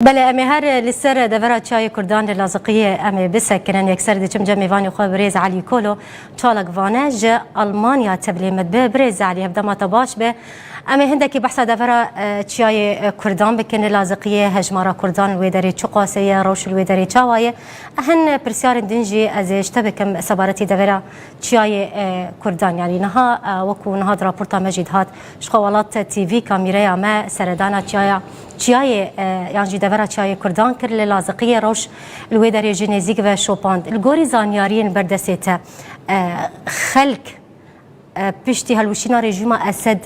Belê em ê her li ser devera çayê kurdan li Laziqiyê em ê bisekirin. Yekser diçim cemê vanê xwe birêz Elî Kolo çalak vane ji Elmanya tebilê min bi birêz Elî hevdema te baş be. Em ê hindekî behsa devera çiyayê kurdan bikin li Laziqiyê hejmara kurdan li wê derê çi qase ye rewş li wê derê çawa ye hin pirsyarên din jî ez ê ji te bikim sebaretî devera çiyayê kurdan yanî niha wekû niha di raporta me jî dihat Ji Xwewelat TV kamîreya me seredana çiyaya çiyayê yan jî devera çiyayê Kurdan kir li Laziqiyê roj li wê derê jî nêzîk ve şopand. Li gorî zanyariyên berdestê te xelk piştî helwişîna rejîma Esed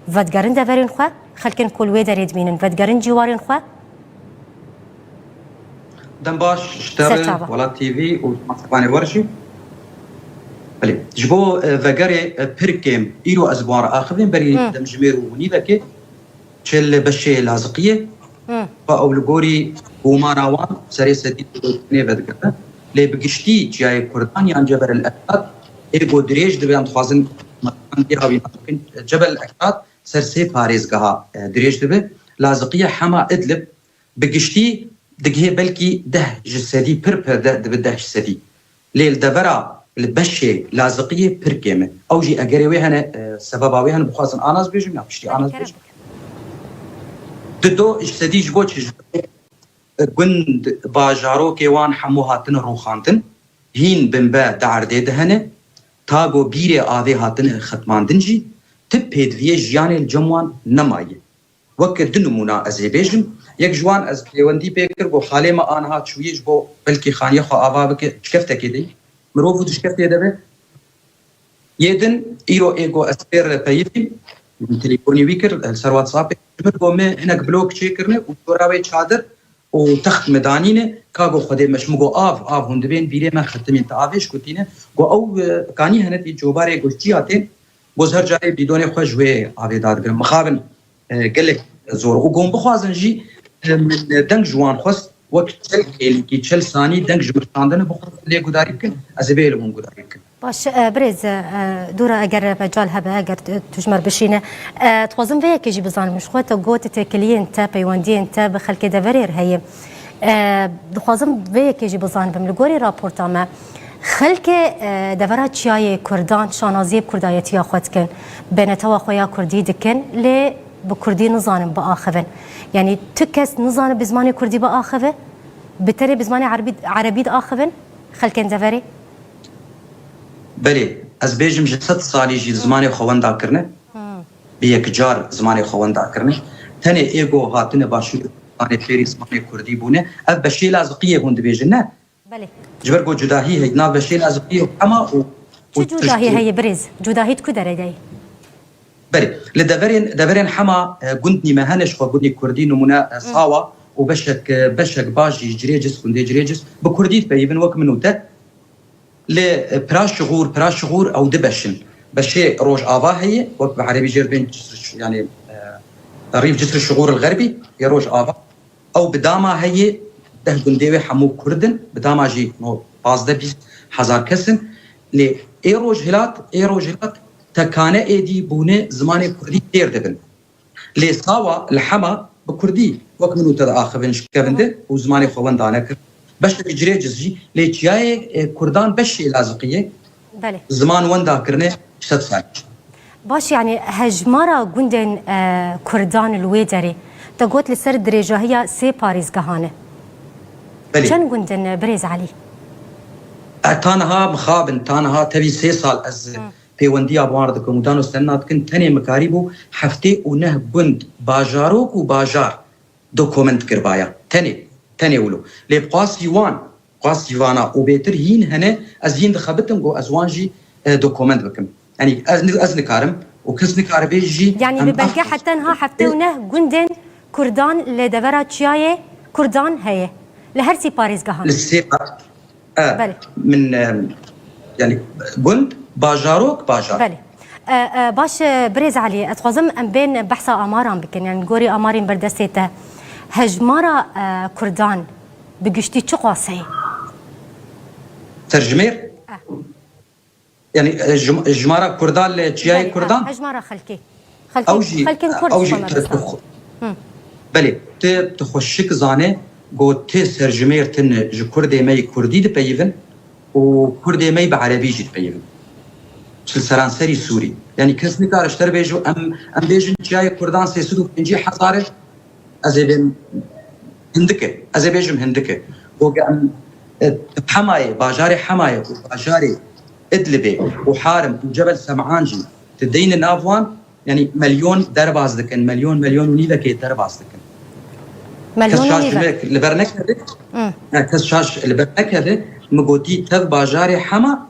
vedigerin deverên xwe, xelkên ku li wê derê dibînin vedigerin cîwarên xwe? Dem baş ji te re Welat TV û Spanê wer jî. Belê ji bo vegerê pir kêm îro ez bi wan re axivîm berî demjimêr û nîvekê çêl li beşê laziqiyê xwe ew li gorî gomana wan serê sedî nê vedigirin lê bi giştî çiyayê kurdan yan cebel el ekdad ê got dirêj dibe em dixwazin îra wî nas bikin cebel el ekdad ser sê parêzgeha dirêj dibe laziqiyê hema idlib Bi giştî digihê belkî deh ji sedî pir pir de dibi deh ji sedî. Lê li devera li beşê laziqiyê pir kêm e. Ew jî egerê wê hene sebeba wê hene bixwazin a nas bêjim ya piştî a nas bêjim. Di do ji sedî ji bo çi? Ji bo lê gund bajarokê wan hemû hatine rûxandin, hîn binbe di erdê de hene. Tago bîrê avê hatine xetmandin jî. Ti pêdiviyê jiyanê li cem wan nemaye. Weke du nimûna ez ê bêjim, yek ji wan ez pêwendî pê kir got halê me aniha çûyî ji bo belkî xaniyê xwe ava bike dişkeftekê de yî. Mirov û dişkeftê de be. Yê din îro ê got ez fêr peyivîm. Min telîfonî wî kir li ser WhatsAppê ji min got me hinek blok çê kirine û çora wê çadir û text me danîne. Ka got xwedê me ji min got av av hûn dibên vîrê me xetimîn ti avê ji ku tîne. Got ew kanî hene tî cobarê got çiya tên Boz her carê bîdonê xwe ji wê avê dadigirim. Mixabin gelek zor û gon bixwazin jî min deng ji wan xwest wek çel hêlîkî, çel sanî deng ji min şandin bixwazin lê gudarî bikin, ez ê bê li hûn gudarî bikim. Baş e birêz Dûra eger mecal hebe, eger tu ji me re bişîne, dixwazim vê yekê jî bizanim ji xwe te got têkiliyên te, peywendiyên te bi xelkê deverê re heye. Dixwazim vê yekê jî bizanibim li gorî raporta me, Xelkê devera çiyayê Kurdan şanaziyê bi kurdayetiya xwe dikin. Bi netewa xwe ya kurdî dikin lê bi kurdî nizanin biaxivin. Yanî tu kes nizane bi zimanê kurdî biaxive? Bi tenê bi zimanê erbî erebî diaxivin xelkên deverê? Belê, ez bêjim ji sed salî jî zimanê xwe wenda kirine. Bi yekcar zimanê xwe wenda kirine. Tenê êgo hatine başûr û zimanê fêrî zimanê kurdî bûne. Ev beşêla ziqiyê hûn dibêjin ne. Belê. Ji ber ku cudahî heye di nav beşên ez û tu û hema û Çi cudahî heye birêz? Cudahî di ku derê de ye? Belê. Li deverên deverên hema gund nîme hene jixwe gundî kurdî nimûne sawa û beşek beşek baş jî cirê cis gundê cirê cis bi kurdî dipeyivin wek min û te li pira şixûr pira şixûr ew di beş in. Beşê rojava heye wek bi erebî jê dibên yanê rîv cisr şixûr il xerbî yê rojava. Ew bi dama heyê deh gundê wê hemû Kurd in, bi dama jî no pazdeh bîst hezar kes in. Lê ê rojhilat ê rojhilat tekane êdî bûne zimanê Kurdî têr dibin. Lê sawa li hema bi Kurdî wek min û te diaxivin ji kevinde û zimanê xwe wenda nekirin. Beşek ji rê cizî lê çiyayê Kurdan beş şêlaziqî ye. Belê. Ziman wenda kirine sed sal. Baş yanî hejmara gundên kurdan li wê derê te got li ser dirêjahiya sê parêzgehan e. Belê. Çend gund in birêz Elî? Ta niha mixab in, ta niha tevî sê sal ez pêwendiya bi wan re dikim û dano senina dikin tenê mikarîbû heftê û neh gund, bajarok û bajar dokumint kiribaya. Tenê, tenê wilo. Lê bi qasî wan Xwest jî vana û bêtir hîn hene, ez hîn dixebitim ku ez wan jî dokument bikim. Yanî ez nikarim û kes nikaribê jî. Yanî bi belge heta tenha heftê û neh gundên Kurdan li devera çiyayê Kurdan heye li her sê parêzgehan. Li sê min yanî gund, bajarok, bajar. Belê. Baş e birêz Elî, ez dixwazim em bên behsa amaran bikin. Yanî gorî amarên berdestê te hejmara Kurdan, Bi giştî çi qase ye? Tercimêr? Yanî jimara kurdan li çiyayê kurdan? Hejmara xelkê. Xelkên kurd dixwe me bi Belê, tu dixwe şik zanê ku ti serjimêr tin ji kurdê me yê kurdî dipeyivin û kurdê me yê bi erebî jî dipeyivin. Li seranserî Sûrî. Yanî kes nikare ji te re bêje em bêjin çiyayê kurdan sê sed û pencî hezar e, Ez ê bêm Hindike. Ez ê bêjim Hindike. Ku em Hemayê, bajarê Hemayê û bajarê Idlibê û Harim û Cebel Sem'an jî tu deyne nav wan, yanî melyon derbas dikin, melyon, melyon û nîvekê derbas dikin. Kes şaş ji me li ber nekeve, kes şaş li ber nekeve, min gotî tev bajarê Hema,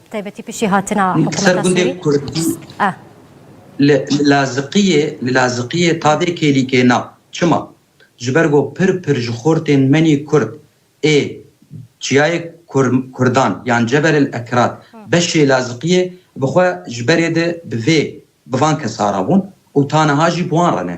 Taybetî piştî hatina hikûmeta Sûrî a. Li Laziqiyê li Laziqiyê tavê kêlîkê na. Çima? Ji ber ku pir pir ji xortên menî kurd ê çiyayê kurdan yan Cebel el Ekrat beşê Laziqiyê bi xwe ji berê di bi vê bi van kesa re bûn û ta niha jî bi wan re ne.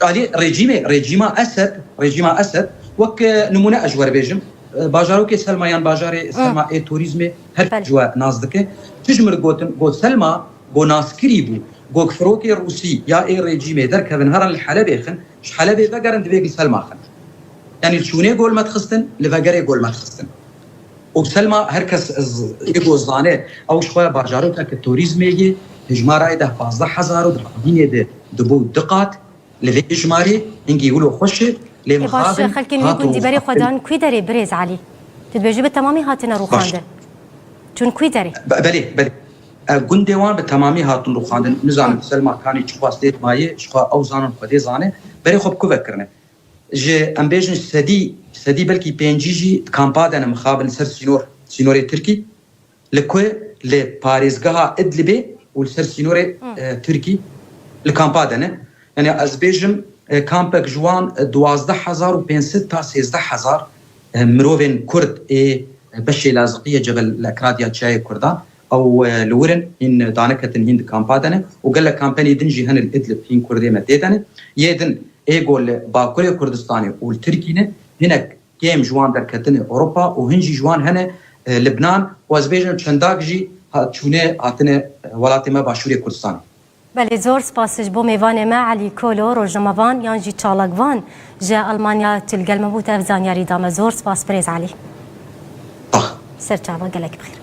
Alî rejîmê, rejîma Esed, rejîma Esed wek nimûne ez ji we re bêjim, bajarokê Selma yan bajarê Selma ê torîzmê her kes ji we nas dike. Tu ji min re gotin got Selma go naskirî bû, got firokê rûsî ya ê rejîmê derkevin herin li Helebê xin, ji Helebê vegerin divê gul Selma xin. Yanî li çûnê gol me dixistin, li vegerê gol me dixistin. Û Selma her kes ji bo zane ew ji xwe bajarokeke torîzmê yê, hejmarayê deh pazdeh hezar û di xwedînê de dibû du qat. Li vê hejmarê hingî wilo xweş e, lê E baş, mixabin xelkên wî hato gundî berê xwe rûxandin. dan kwî derê birêz Elî? Tu dibêjî bi temamî hatine Baş. rûxandin. Çûn kwî derê? Belê, belê. Gundê wan bi temamî hatin rûxandin. Nizanim Selma kanî çi xwest dê di mayê, ji xwe ew zanin xwedê zane, berê xwe bi ku ve kirine. Ji em bêjin sedî sedî belkî pêncî jî di kampa de ne mixabin li ser sînor, sînorê tirkî li ku li parêzgeha Idlibê û li ser sînorê tirkî li kampa de ne. Yanî ez bêjim kampek ji wan duwazdeh hezar û pênc sed ta sêzdeh hezar mirovên kurd ê beşê laziqiyê cebel li ekradiya çiyayê kurdan Ew li wir in, hîn daniketin, hîn di kampa de ne û gelek kampenî din jî hene li Idlib, hîn kurdê me tê de ne. Yê din ê ku li bakurê Kurdistanê û li Tirkî ne, hinek kêm ji wan derketine Ewropa û hin jî ji wan hene Libnan û ez bêjim çendak jî çûne hatine welatê me başûrê Kurdistanê. Belê zor spas ji bo mêvanê me Elî Kolo, rojnamevan yan jî çalakvan ji Elmanya tu li gel me bû tu ev zanyarî da me. Zor spas birêz Elî. Serçava gelek bi xêr.